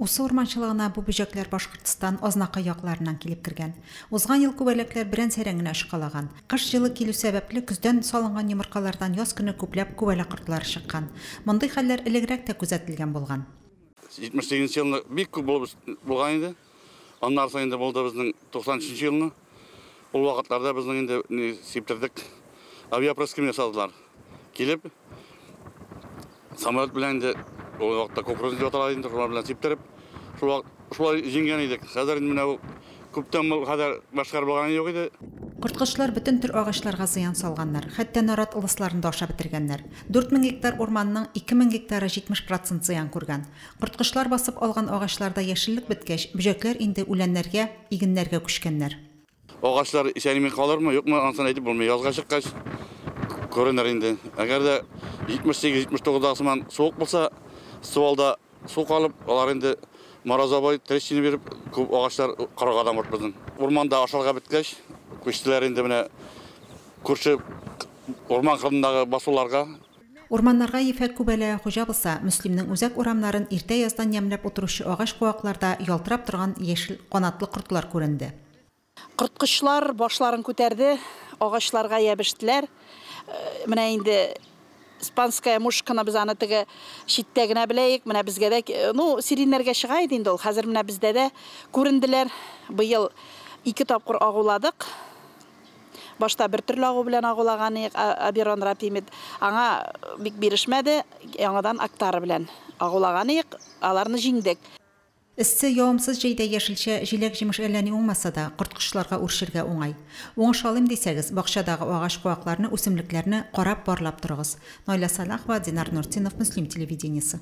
Усы урманчылыгына бу бөҗәкләр Башкортстан, Азнакай якларыннан килеп кергән. Узган ел күбәләкләр берән-сәрән генә очкалаган. Кыш җылы килү сәбәпле, көздән салынган йомыркалардан яз көне күпләп күбәләк кортлары чыккан. Мондый хәлләр элегрәк тә күзәтелгән булган. 78 нче елны бик күп булып булган иде. Аннары соң инде булды безнең 93 нче елны. Ул вакытларда безнең инде ни сиптердек, авиапроским ясадылар. Килеп, самолет белән инде ул вакытта кукуруз дип атала инде, шулар белән сиптереп, шул вакыт шулай җиңгән идек. Хәзер инде менә бу күптән бу хәзер башкар булганы юк иде. Корткычлар бөтен төр агачларга зыян салганнар, хәтта нарат ылысларын да ашап бетергәннәр. Дүрт мең гектар урманның ике мең гектары 70 процент зыян күргән. Корткычлар басып алган агачларда яшеллек беткәч, бөҗәкләр инде үләннәргә, игеннәргә күчкәннәр. Агачлар исән-имин калырмы, юкмы, анысын әйтеп булмый. Язга чыккач күренер инде. Әгәр дә 78-79 дагы сыман суык булса, стволда су калып, алар инде морозовой трещина биреп, күп агачлар корырга да может безнең. Урманда ашарга беткәч, күчтеләр инде менә күрше урман кырындагы басуларга, Урманнарга ефәк күбәләге хуҗа булса, Мөслимнең үзәк урамнарын иртә яздан ямьләп утыручы агач-куакларда ялтырап торган яшел канатлы кортлар күренде. Корткычлар башларын күтәрде, агачларга ябештеләр. Менә инде Спанская мушканы без аны теге читтә генә беләек, менә безгә дә, ну, сиреньнәргә чыга иде инде ул, хәзер менә бездә дә күренделәр. Быел ике тапкыр агуладык. Башта бер төрле агу белән агулаган иек, Абирон рапимид. Аңа бик бирешмәде, яңадан Актара белән агулаган иек, аларны җиңдек. Эссе, явымсыз җәйдә яшелчә, җиләк-җимеш әллә ни уңмаса да, корт-кошларга үрчергә уңай. Уңыш алыйм дисәгез, бакчадагы агач-куакларны, үсемлекләрне карап-барлап торыгыз. Наилә Сәлахова, Динар Нуртдинов, Мөслим телевидениесе.